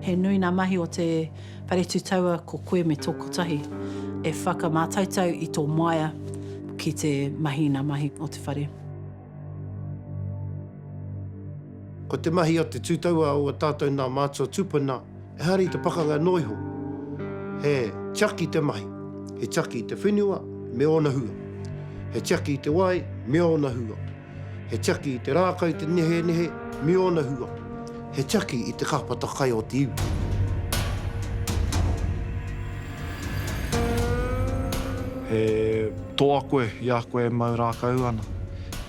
He nui ngā mahi o te Paretu Taua ko koe me tō kotahi e whakamātautau i tō maia ki te mahi i ngā mahi o te whare. Ko te mahi a te tūtaua o a tātou nā mātua tūpuna, Ehara i te pakanga noa iho, he tiaki i te mahi, he tiaki i te whenua me ōna hua, he tiaki i te wai me ōna hua, he tiaki i te rākau, te nehenehe me ōna hua, he tiaki i te kāpata kai o te iwi. He toa koe i a koe e mau rākau ana,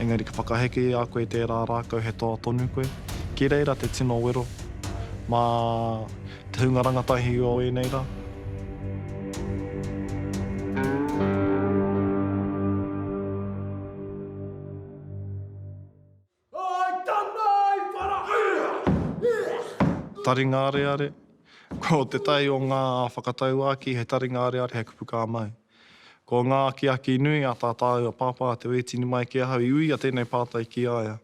engari ka whakaheke i a koe i tērā rākau he toa tonu koe. Ki reira te tino wero mā te hunga rangatahi o ēnei rā. Taringa areare, Ko te tae o ngā whakatauākī he taringa areare hei kupu kā mau. Ko ngā akiaki nui a tā tāua pāpā te wētini mai ki ahau i uia tēnei pātai ki a ia.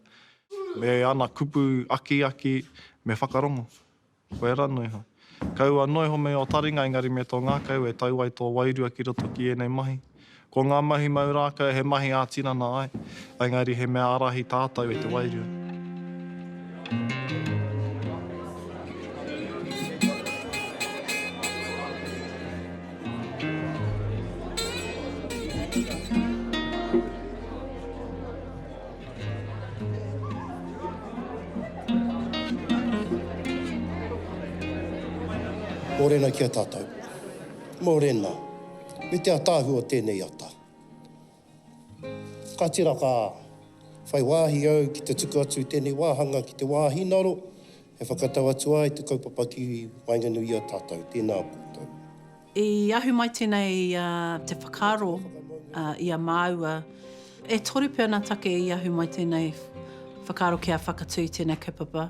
Me ana kupu akiaki, me whakarongo. Koia ra no iho. Kaua no iho me o taringa engari me to ngakau e tau ai to wairua ki roto ki enei mahi. Ko nga mahi mau rakau he mahi a tinana ai, engari he mea arahi tatau e te wairua. Morena ki a tatou. Morena. Me te ataahua tenei ata. Ka tira ka whai wahi au ki te tuku atu i tenei wahanga ki te wahinaro e whakatau atu ai te kaupapa ki waenganui i a tatou. Tena koutou. I ahu mai tenei te whakaaro i a māua, e toru pea na take i ahu mai tenei whakaaro kia whakatu i tenei kaupapa.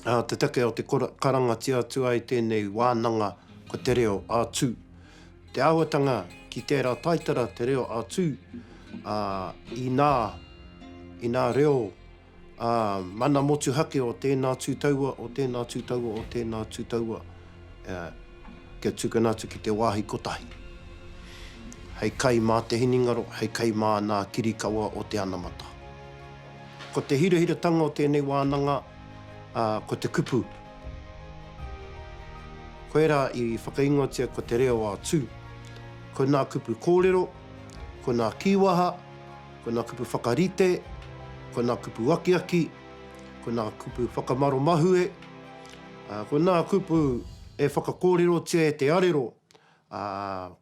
A te take o te karangatia atu ai tenei wānanga ko te reo a Tū. Te āhuatanga ki tera taitara te reo a Tū, a, inā, inā reo, Ā, mana motuhake o tēnā tū taua, o tēnā tū taua, o tēnā tū taua, ā, kia tukuna atu ki te wāhi kotahi. Hei kai mā te hinengaro, hei kai mā nā kirikawa o te anamata. Ko te hirahiratanga o tēnei wānanga, ā, ko te kupu. Koirā i whakaingoatia ko te reo ā-tū. Ko nā kupu kōrero, ko nā kīwaha, Ko nā kupu whakarite, ko nā kupu akiaki, ko nā kupu whakamaro mahue, ā, ko nā kupu e whakakōrerotia e te arero, ā,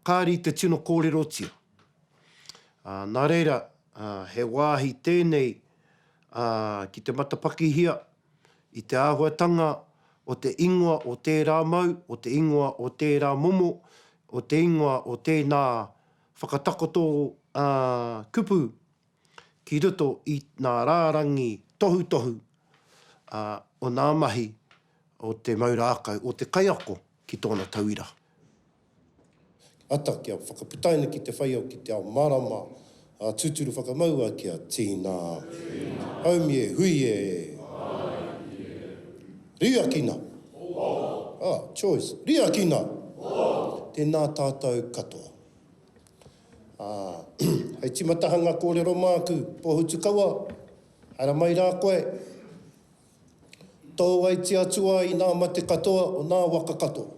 kāre i te tino kōrerotia. Ā, nā reira, ā, he wāhi tēnei, ā, ki te matapakihia i te āhuatanga o te ingoa o tērā mau, o te ingoa o tērā momo, o te ingoa o tēnā, Whakatakoto ā-kupu ki roto i ngā rārangi tohutohu o ngā mahi o te mau rākau, o te kaiako ki tōna tauira. Ata kia whakaputaina ki te whaiao, ki te ao marama, ā, tūturu whakamaua kia tīna. Haumi e, hui e! Riakina! Hō! Ah, choice. Riakina! Hō! Tēnā tātou katoa. Ah, hei timatahanga kōrero māku, Pōhutukawa, haere mai rā koe. Tō wai tia atu ai nā mate katoa o nā waka katoa.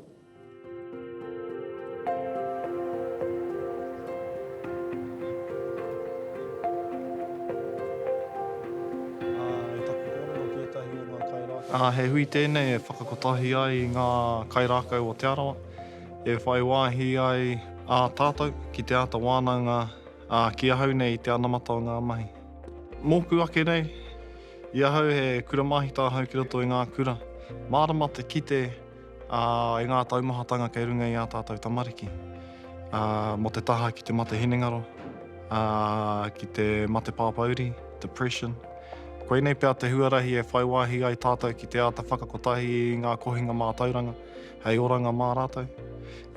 He hui tēnei e whakakotahi ai i ngā kairākau o Te Arawa, e whai wāhi ai ā tātou ki te āta wānanga ki ahau nei i te anamata o ngā mahi. Mōku ake nei, i ahau he kura māhita ahau ki roto i ngā kura, mārama te kite, ā, e ngā taumahatanga kei runga i ā tātou tamariki, ā, mō te taha ki te mate hinengaro, ā, ki te mate pāpāuri, depression. Koinei pea te huarahi e whai wāhi ai tātou ki te āta whakakotahi i ngā kohinga mātauranga hei oranga mā rātou.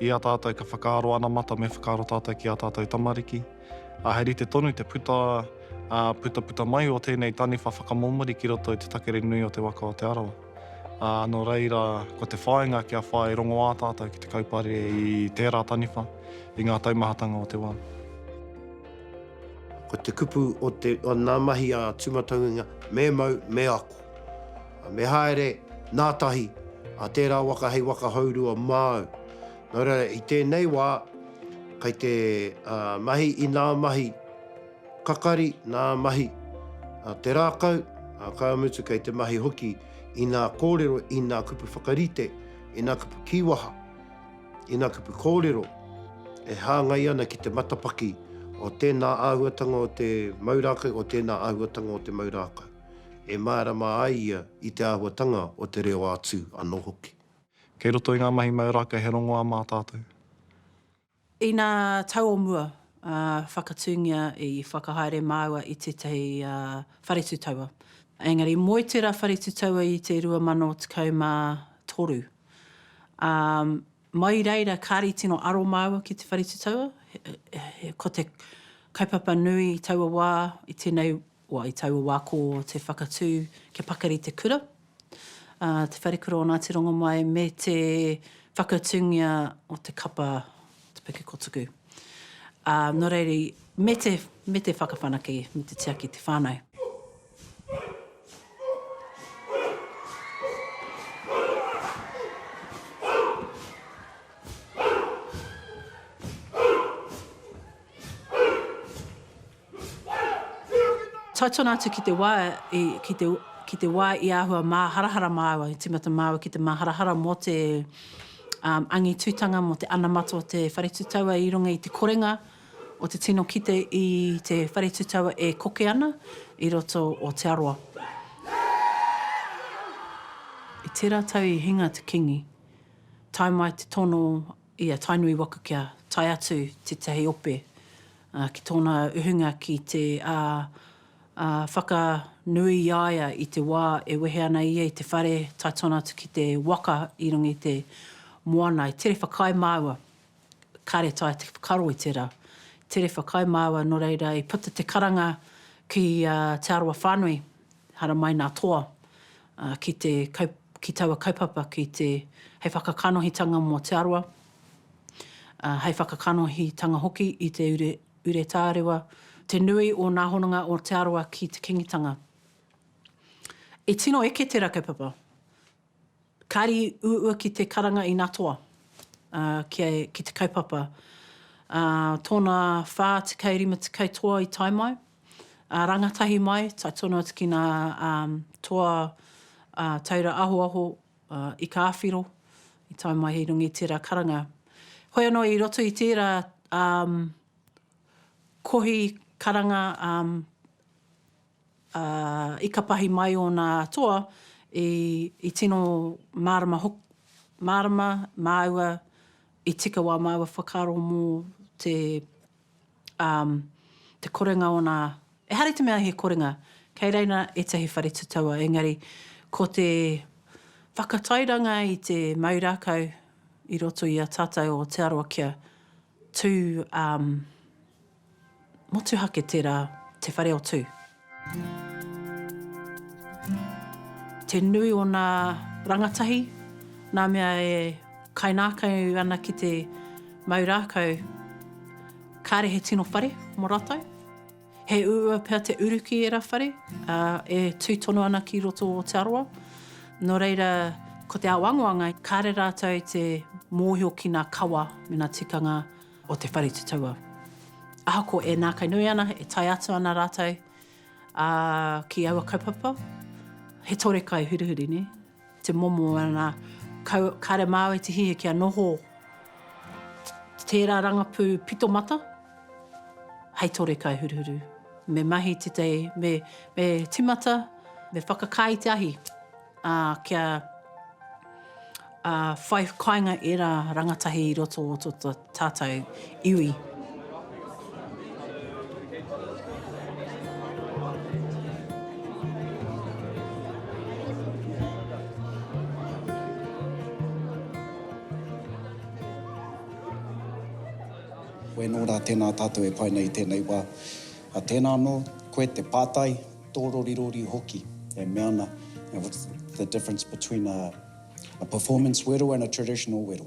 I a tātou ka whakaaro anamata me whakaaro tātou ki ā tātou tamariki, ā, he rite tonu te puta, ā, putaputa mai o tēnei taniwha whakamomori ki roto i te takere nui o te waka o Te Arawa. Ā, nō reira, ko te whāinga kia whai rongoā tātou ki te kaupare i tērā taniwha, i ngā taumahatanga o te wā. Ko te kupu o te, o nā mahi a Tūmatauenga, me mau, me ako. Me haere nā tahi, a tērā waka hei waka hourua māu. Nō reira, i tēnei wā, kei te mahi, inā mahi, Kakari, nā mahi, a te rākau, a ka mutu kei te mahi hoki i nā kōrero, i nā kupu whakarite, i nā kupu kīwaha, i nā kupu kōrero e hāngai ana ki te matapaki o tēnā āhuatanga o te mau rākau, o tēnā āhuatanga o te mau rākau, e mārama ai ia i te āhuatanga o te reo ā-tū anō hoki. Kei roto i ngā mahi mau rākau he rongoā mā tātou. Inā tau o mua, whakatūngia i whakahaere māua i tētahi whare tūtaua. Engari moe tērā whare tūtaua i te 2013. Ā, mai i reira kāre i tino aro māua ki te whare tūtaua, ko te kaupapa nui i taua wā, i tēnei Kua i taua wā ko te whakatū kia pakari te kura, a Te Wharekura o Ngāti Rongomai me te whakatūngia o te kapa o Te Puke Kotuku. Ā, nō reira, me te, me te whakawhanake, me te tiaki i te whānau. Tautona atu ki te wā, ki te wā i āhua māharahara māua, i tīmata māua ki te māharahara mō te angitutanga, mō te anamata o te whare tūtaua i runga i te korenga o te tino kite i te whare tūtaua e koke ana i roto o Te Arawa. I tērā tau i hinga te Kīngi, tae mai te tono i a Tainui waka kia tae atu tetahi ope ki tona uhunga ki te whaka nui i a ia i te wa e wehe ana ia i te whare tae tona atu ki te waka i runga i te moana i tere whakaae maua kare tae te whakaro i tera tere whakaae maua no reira i puta te karanga ki te arawa whanui. Haramai nā Toa ki te kau, ki taua kaupapa ki te, hei whakakanohitanga mō Te Arawa, hei whakakanohitanga hoki i te ure, ure tārewa, te nui o nā hononga o Te Arawa ki Te Kingitanga. I tino eke tērā kaupapa. Kāri uua ki te karanga i nā toa, ā, ki, ki te kaupapa. Ā, tōna whā tekau rima tekau toa i tae mai, ā, rangatahi mai, tae tonu atu ki nā, ā, toa, ā, taura ahoaho, ā, ika awhiro, i tae mai i runga i tērā karanga. Hoi anō i roto i tērā, ā, kohi karanga, ā, ā, i kapahi mai ōna toa, i, i tino mārama hoki, mārama māua, i tika wā māua whakaaro mō te, ā, te korenga o nā, ehara i te mea he korenga, kei reira ētahi whare tutaua, engari ko te whakatairanga i te mau rākau i roto i a tātou o Te Arawa kia. Tū, um, motuhake tērā, te whare o Tū. Te nui o nā rangatahi, nā mea e kainākau ana ki te mau rākau, kāre he tino whare mō rātou. He uua pea te uruki e Rawhare, ā, e tū tonu ana ki roto o Aotearoa. Nō reira, ko te ao angoanga, kāre rātou i te mōhio ki ngā kawa me ngā tikanga o te whare tutaua. Ahakoa e nākainui ana, e tae atu ana rātou, ā, ki aua kaupapa, he tore kai hurihuri, nē? te momo ana kare māu e te hihi kia noho tērā rangapū pito mata hei tore kai huruhuru. Me mahi tētahi, me, me timata, me whakakā i te ahi, ā, kia, ā, whai kainga ērā rangatahi i roto o to, to, tātou iwi. Koe anō rā, tēnā tātou e pai nei i tēnei wā. Ā, tēnā anō, koe te pātai, tōrorirori hoki e mea ana, you know, what's the difference between a performance wero and a traditional wero?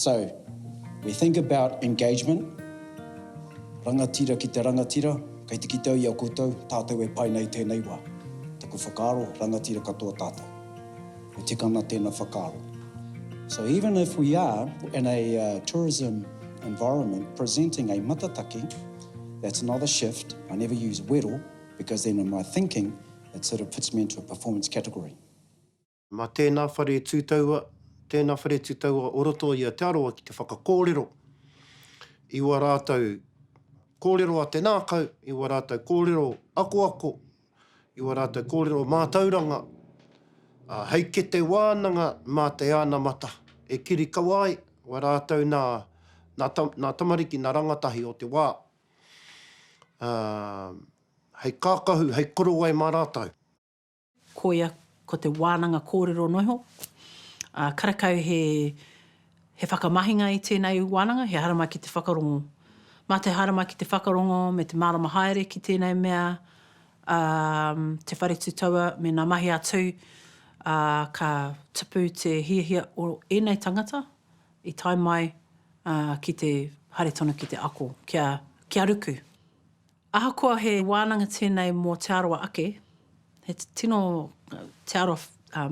So, we think about engagement, rangatira ki te rangatira, kei te kite au i a koutou, tātou e pai nei i tēnei wā. Taku whakaaro, rangatira katoa tātou. E tika ana tēnā whakaaro. So even if we are, in a tourism environment, presenting a matataki, that's not a shift, I never use wero, because then in my thinking, it sort of puts me into a performance category. Mā tēnā whare tū taua, tēnā whare tū taua o roto i a Te Arawa ki te whakakōrero i ua rātou kōrero a te nākau, i ua rātou kōrero akoako, i ua rātou kōrero mātauranga, ā, hei kete wānanga mā te anamata e kirikawa ai wā rātou nā, nā ta, nā tamariki, nā rangatahi o te wā, ā, hei kākahu, hei korowai mā rātou. Koia ko te wānanga kōrero noiho, ā, karekau he, he whakamahinga i tēnei wānanga, he hāramai ki te whakarongo. Mā te hāramai ki te whakarongo me te mārama haere ki tēnei mea, ā, te whare tū taua me ngā mahi a Tū, ā, ka tupu te hiahia o ēnei tangata i tae mai, ā, ki te haere tonu ki te ako, kia, kia ruku. Ahakoa he wānanga tēnei mō Te Arawa ake, he tino Te Arawa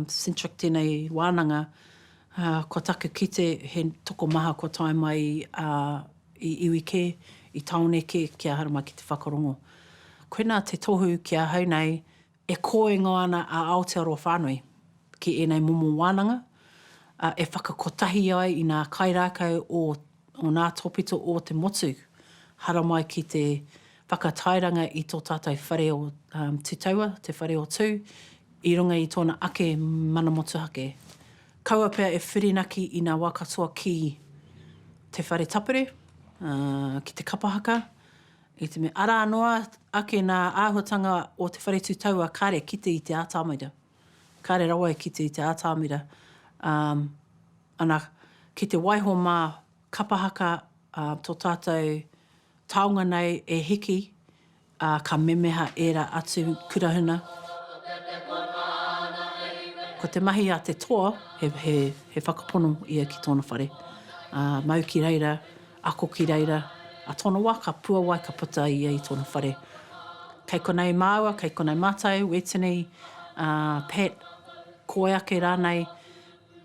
centric tēnei wānanga, kua taku kite he tokomaha kua tae mai i iwi kē, i tāone kē ki ahau mai ki te whakarongo. Koinā te tohu ki ahau nei, E koingo ana a Aotearoa whānui ki ēnei momo wānanga, ā, e whakakotahi ai i ngā kairākau o ngā tōpito o te motu, haramai ki te whakatairanga i tō tātou whare o Te Taua, Te Whare o Tū, i runga i tōna ake mana motuhake. Kaua pea e whirinaki i ngā wā katoa ki te whare tapere, ā, ki te kapa haka, I te mea, arā noa ake nā āhuatanga o te whare tū taua kare kite i te atamira, kare rawa e kite i te atamira, ā, ana, ki te waiho mā Kapa Haka tō tātou taonga nei e hiki, ā, ka memeha ērā atu kurahuna. Ko te mahi a te toa, he whakapono ia ki tōna whare, ā, mau ki reira, Ako ki reira a tona wa, ka puawai ka puta a ia i tona whare. Kei konei maua, kei konei matou, Wetini, Pat, koe ake ranei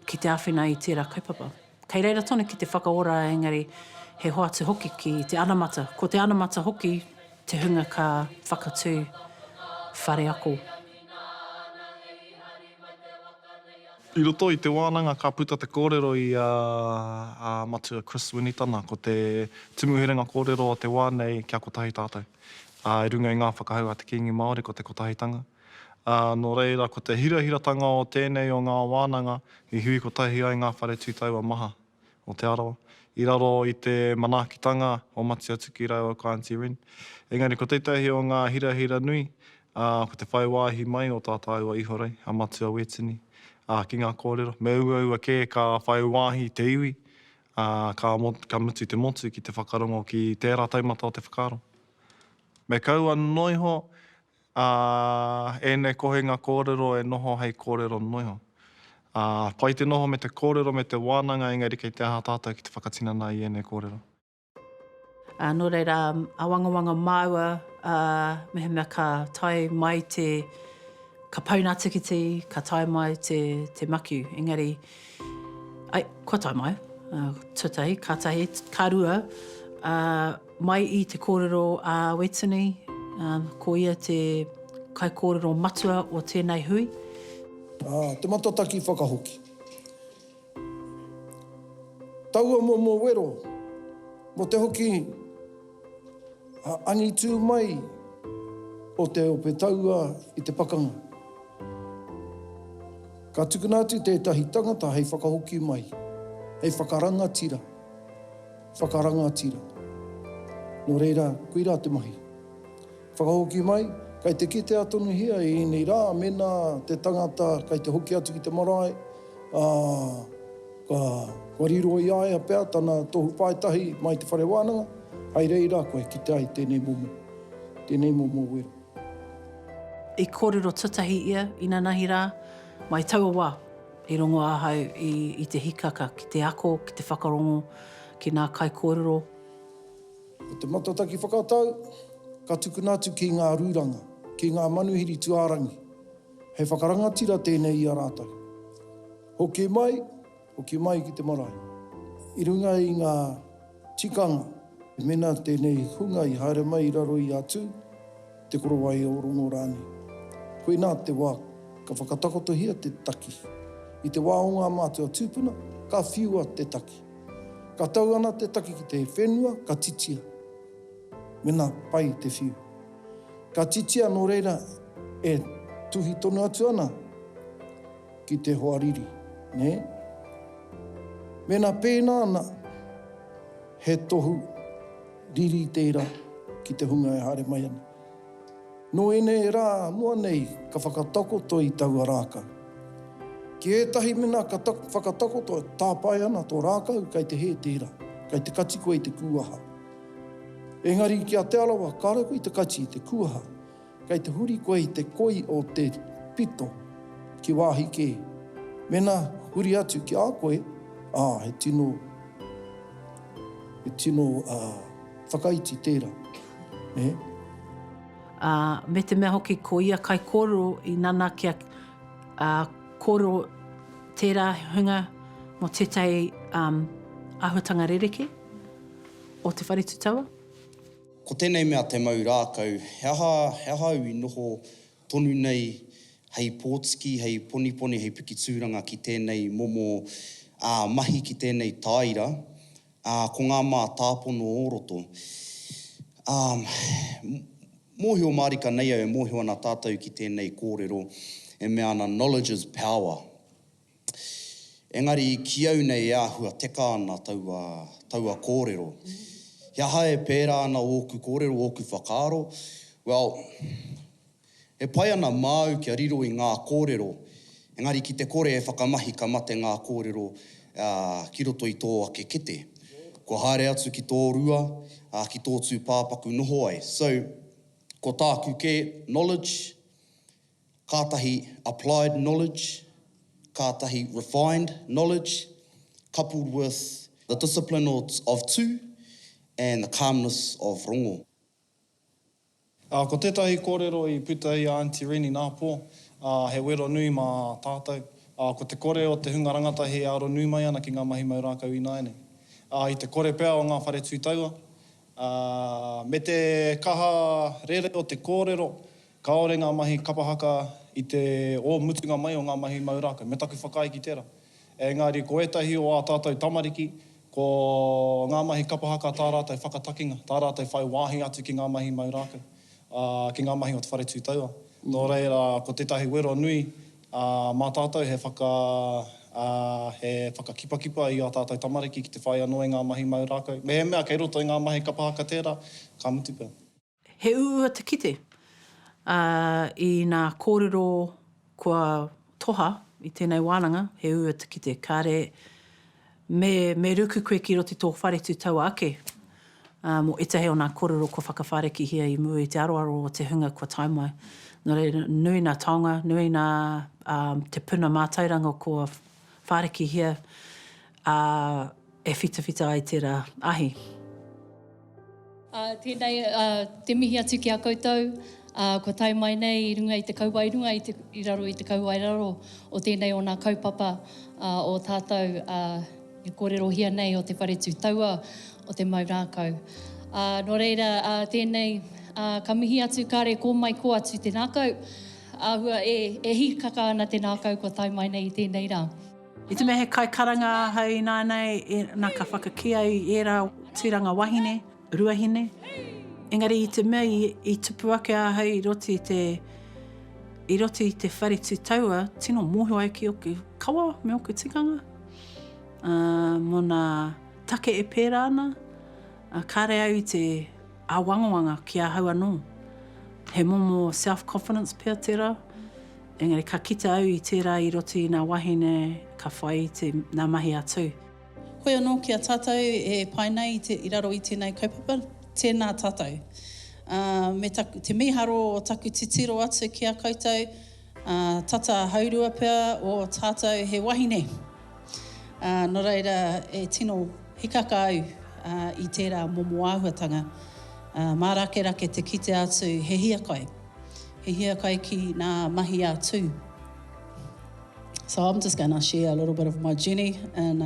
ki te awhina i tera kaupapa. Kei reira tonu ki te whakaora engari he hoatu hoki ki te anamata. Ko te anamata hoki te hunga ka whakatu whare ako. I roto i te wānanga ka puta te kōrero i a Matua Chris Winitana, ko te tumu herenga kōrero o te wā nei kia kotahi tātou. I runga i ngā whakahau a te Kīngi Māori ko te kotahitanga. Nō reira ko te hirahiratanga o tēnei o ngā wānanga i hui kotahi ai ngā whare tū taua maha. o Te Arawa, i raro i te manaakitanga o Matia Tuki rāua ko Aunty Rin. Engari ko tētahi o ngā hirahira nui, ā, ko te whai wāhi mai o tā tāua ihorei, a Matua Wētini, ā, ki ngā kōrero, me uaua kē ka whai wāhi te iwi, ā, ka, ka mutu te motu ki te whakarongo ki tērā taumata o te whakaaro. Me kaua noa iho, Ā, ēnei kohinga kōrero e noho hei kōrero noiho. Ā, pai te noho me te kōrero me te wānanga engari kei te aha tātou ki te whakatinana i ēnei kōrero? Ā, nō reira, āwangawanga māua, ā, mehemea ka tae mai te, ka pauna tikiti, ka tae mai te, te makiu. Engari. Ai, kua tae mai. Tuatahi, ka tahi, ka rua, mai i te kōrero a Wetini, ko ia te kaikōrero matua o tēnei hui. Te matataki whakahoki. Taua momo wero, mo te hoki. Ngā angitu mai o te ope taua i te pakanga. Ka tukuna atu tētahi tangata hei whakahoki mai, hei whakarangatira, whakarangatira. Nō reira, koirā te mahi. Whakahoki mai, kei te kitea tonuhia e ēnei rā mēnā te tangata kei te hoki atu ki te marae, ā, kua riro i a ia pea tana tohu pae tahi mai te whare wānanga, hai reira kua kite ai tēnei momo, tēnei momo wero. I kōrero tuatahi ia, inanahi rā, mai taua wā, i rongo ahau i te hikaka ki te ako, ki te whakarongo, ki nā kaikōrero. Ko te matataki whakatau, ka tukuna atu ki ngā rūranga, ki ngā manuhiri tuārangi. Hei whakarangatira tēnei i a rātou. Hoki mai, hoki mai ki te marae. I runga i ngā tikanga, mēnā tēnei hunga i haere mai i raro i a Tū, Te Korowai o Rongo rānei. Koinā te wā ka whakatakotohia te taki. I te wā o ngā mātua tūpuna, ka whiua te taki. Ka tau ana te taki ki te whenua, ka titia, mena pai te whiu. Ka titia nō reira e tuhi tonu atu ana ki te hoariri, nē. Mēnā pēnā ana, he tohu. Riri tērā ki te hunga e haere mai ana. Nō ēnei rā noa nei ka whakatakoto i taua rākau. Ki ētahi mena ka whakatakoto e tāpae ana tō rākau kei te hē tērā, kei te kati koe i te kūaha. Engari ki a Te Arawa kāore koe i te kati i te kūaha. Kei te huri koe i te koi o te pito ki wāhi kē. Mēnā huri atu ki a koe, ā, he tino, he tino, ā, whakaiti tērā, nē. Ā, me te mea hoki ko ia kaikōrero i nanakia, ā, kōrero tērā hunga mō tētahi, ā, āhuatanga rerekē o Te Whare Tūtaua. Ko tēnei mea te mau rākau, he aha, he aha au i noho tonu nei hei pōtiki, hei poniponi, hei piki tūranga ki tēnei momo ā, mahi ki tēnei tāira, ā, ko ngā mātāpono o roto. Ā, mōhio mārika nei au e mōhio ana tātou ki tēnei kōrero e mea ana knowledge is power. Engari ki au nei e āhua teka ana taua, taua kōrero. He aha e pērā ana ōku kōrero, ōku whakaaro? Well, e pai ana māu kia riro i ngā kōrero, engari ki te kore e whakamahi ka mate ngā kōrero ki roto i tō ake kete. Kua haere atu ki tō rua, ki tō tūpāpaku noho ai. So, ko tāku kē, knowledge, kātahi applied knowledge, kātahi refined knowledge, coupled with the discipline of tū and the calmness of rongo. Ā, ko tētahi kōrero i puta i a Aunty Reni Nāpō, ā, he wero nui mā tātou, ā, ko te kore o te hunga rangatahi e aro nui mai ana ki ngā mahi mau rākau ināianei. Ā, i te kore pea o ngā whare tū taua, ā, me te kaha rere o te kōrero, Kāore ngā mahi kapa haka i te ō mutunga mai o ngā mahi mau rākau, me taku whakaae ki tērā. Engari ko ētahi o ā tātou tamariki, ko ngā mahi kapa haka tā rātou whakatakinga, tā rātou whai wāhi atu ki ngā mahi mau rākau, ā, ki ngā mahi o te whare tūtaua. Nō reira, ko tētahi wero nui mā tātou he whaka, ā, he whakakipakipa i ā tātou tamariki ki te whai anō i ngā mahi mau rākau. Mehemea kei roto i ngā mahi kapa haka tērā, ka mutu pea. He uua te kite, ā, i nā kōrero kua toha i tēnei wānanga, he uua te kite. Kāre me, me ruku koe ki roto i tō wharetū taua ake, ā, mō ētahi o nā kōrero kua whakawhārekihia i mua i te aroaro o te hunga kua tae mai. Nō reira, nui nā taonga, nui nā, ā, te puna mātairanga kua, Whārakihia, ā, e whitawhita ai tērā ahi. Ā, tēnei te mihi atu ki a koutou, ā, kua tae mai nei i runga i te kauae runga i te, i raro i te kauae raro o tēnei o nā kaupapa, ā, o tātou, ā, e kōrerohia nei o te whare tū taua o te mau rākau. Ā, nō reira, ā, tēnei, ā, ka mihi atu kāre kō mai kō atu te rākau, Āhua, E, e hīkaka ana te nākau kua tae mai nei i tēnei rā. I te mea he kaikaranga ahau ināianei, ina ka whakakī au i ērā tūranga wahine, ruahine, engari i te mea i tupu ake ahau i roto i te, i roto i te whare tūtaua, tino mōhio au ki ōku kawa me ōku tikanga, ā, mō nā take e pērā ana, ā, kāre au i te. Āwangawanga ki ahau anō. He momo self-confidence pea tērā, engari ka kite au i tērā i roto i ngā wahine ka whai i te, ngā mahi a Tū. Hoi anō ki a tātou e pai nei i te, i raro i tēnei kaupapa, tēnā tātou. Ā, me taku, te mīharo o taku titiro atu ki a koutou, Ā, tata haurua pea ō tātou he wahine. Ā, nō reira, e tino hikaka au i tērā momo āhuatanga. Ā, mārakerake te kite atu he hiakai, he hiakai ki nā mahi a Tū. So I'm just going to share a little bit of my journey in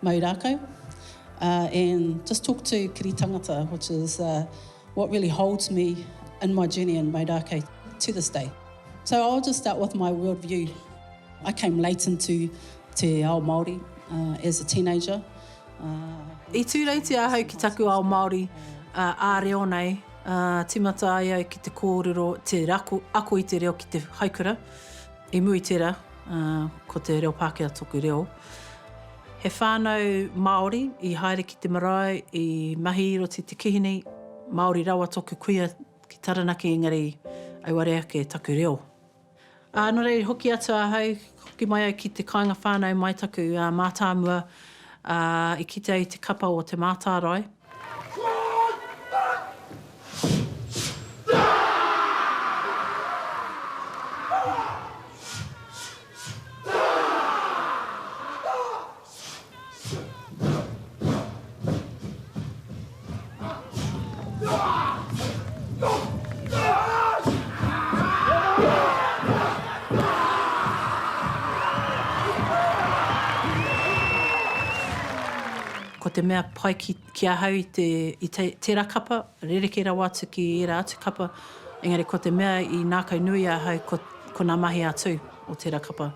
mau rākau and just talk to kiri tangata which is what really holds me in my journey in mau rākau to this day. So I'll just start with my world view. I came late into te ao Māori uh, as a teenager. Uh, I tūreitia ahau ki taku ao Māori uh, ā reo nei, uh, timata ai au ki te kōrero, te rako, ako i te reo ki te haikura. I mui tera, uh, ko te reo Pākehā toku reo. He whānau Māori i haere ki te marae, i mahi i roti te kihini, Māori rawa toku kuia Ki Taranaki engari auare ake taku reo. Ā, nō reira i hoki atu ahau, hoki mai au ki te kāinga whānau mai taku mātāmua, ā, i kite au i te kapa o Te Mātārae. Ko te mea pai ki, ki ahau i te, i te, tērā kapa, rerekē rawa atu ki ērā atu kapa, engari ko te mea i nākaunui ahau ko, ko nā mahi a Tū o tērā kapa.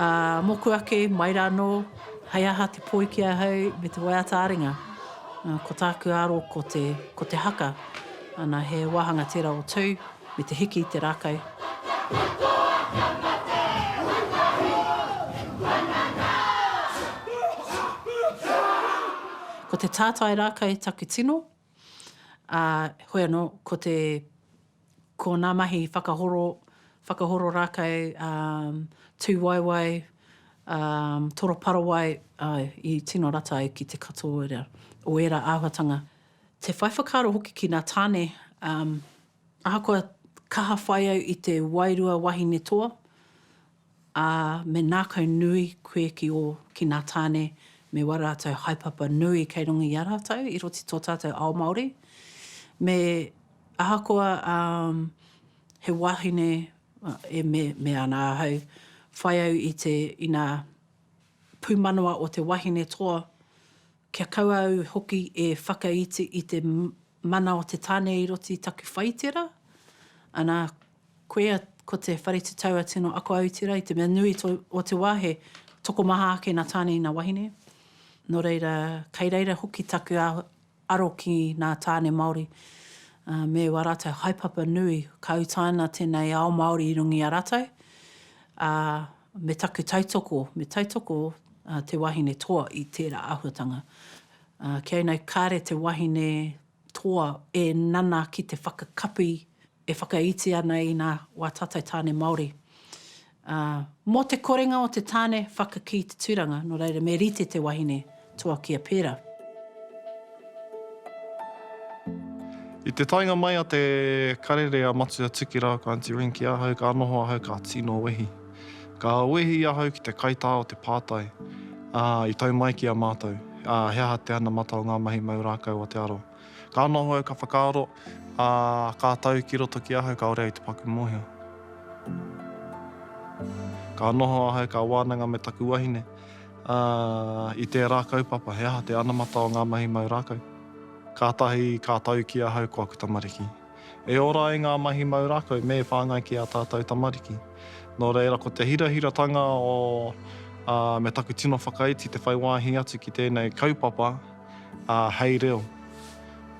Ā, mōku ake, mai rānō, hei aha te poi ki ahau me te waiata aringa? Ā, ko tāku aro ko te, ko te haka. Ana, he wāhanga tērā o tū, me te hiki i te rākau. Ko te tātai rākau taku tino. ā, hoi anō, ko te, ko ngā mahi whakahoro, whakahoro rākau, ā, tūwaewae, ā, toroparawae, āe, i tino rata ai ki te katoa o ērā āhuatanga. Te whai whakaaro hoki ki ngā tāne, ā, ahakoa kaha whai au i te wairua wahine toa, Ā, me nākau nui koe ki ō, ki nā tāne me wā rātou haepapa nui kei runga i a rātou, i roto i tō tātou ao Māori. Me, ahakoa, ā, he wāhine, e me, me ana ahau, whai au i te, inā, pūmanawa o te wahine toa, kia kaua au hoki e whakaiti i te mana o te tāne i roto i taku whaitera, ana, Koia, ko te whare tutau a Tino Ako Aotira i te mea nui o te wā he tokomaha ake nā Tāne ina wahine. Nō reira, kei reira hoki taku aro ki nā Tāne Māori me wā rātou haepapa nui ka utaina tēnei ao Māori i runga i a rātou, ā, me taku tautoko, me tautoko te wahine toa i tērā āhuatanga. Kei nei kāre te wahine toa e nana ki te whakakapi e whakaiti ana i na wa tatou tane Maori. A, mo te korenga o te tane whakaki i te turanga, no reira me rite te wahine toa kia pera. I te taenga mai a te karere a Matua Tiki rāua ko Aunty Ring ki ahau, ka noho ahau ka tino wehi. Ka wehi ahau ki te kaitā o te pātai, ā, i tau mai ki a mātou, ā, he aha te anamata o ngā mahi mau rākau o te aro? Ka noho au ka whakaaro, ā, ka tau ki roto ki ahau kāore au te paku mōhio. Ka noho ahau ka wānanga me taku wahine, ā, i tērā kaupapa, he aha te anamata o ngā mahi mau rākau? Kātahi ka tau ki ahau ko aku tamariki. E ora ai ngā mahi mau rākau me whāngai ki ā tātou tamariki. Nō reira, ko te hirahiratanga o ā, me taku tino whakaiti te whai wāhi atu ki tēnei kaupapa ā, hei reo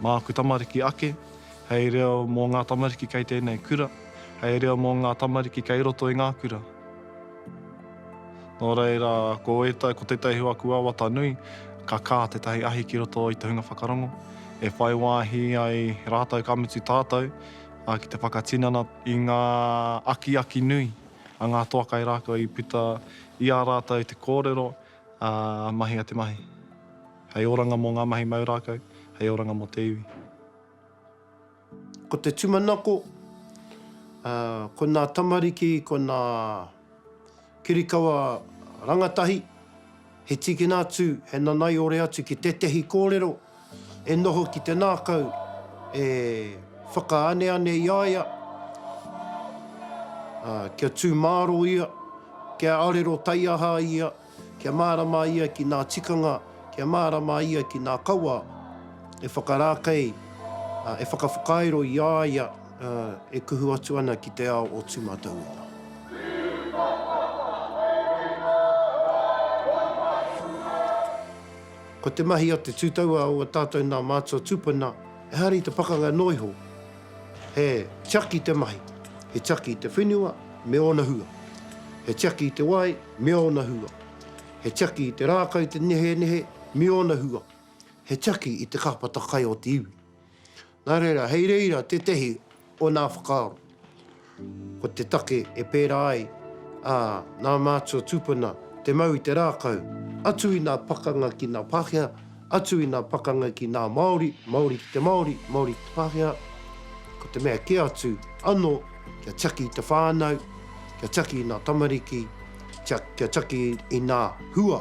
māku tamariki ake, hei reo mō ngā tamariki kei tēnei kura, hei reo mō ngā tamariki kei roto i ngā kura. Nō reira, ko ētahi, ko tētahi o aku wawata nui, ka kā tētahi ahi ki roto i te hunga whakarongo, e whai wāhi ai rātou ka mutu tātou, ā, ki te whakatinana i ngā akiaki nui a ngā toa kai rā kua i puta i a rātou te kōrero, ā, mahia te mahi. Hei oranga mō ngā mahi mau rākau, hei oranga mō te iwi. Ko te tumanako, ko nā tamariki, ko nā kirikawa rangatahi, he tīkina atu, he nanaiore atu ki tētehi kōrero e noho ki te nākau, e whakaaneane i a ia, kia tū māro ia, kia arero taiaha ia, Kia mārama ia ki nā tikanga, kia mārama ia ki nā kawa e whakarākei, e whakawhakairo i a ia e kuhu atu ana ki te ao o tūmataunga. Ko te mahi a te tūtaua o a tātou nā mātua tūpuna, ehara i te pakanga noa iho, He tiaki te mahi, he tiaki te whenua me ōna hua. He tiaki te wai me ōna hua. He tiaki te rākau, te nehenehe me ōna hua. He tiaki i te kāpata kai o te iwi. Nā reira, hei reira tētehi o nā whakaaro. Ko te take e pērā ai, ā, nā mātua tūpuna te mau i te rākau, atu i ngā pakanga ki ngā Pākehā, atu i ngā pakanga ki ngā Māori, Māori ki te Māori, Māori ki te Pākehā, ko te mea kē atu anō kia tiaki i te whānau, kia tiaki i ngā tamariki, kia tiaki i ngā hua.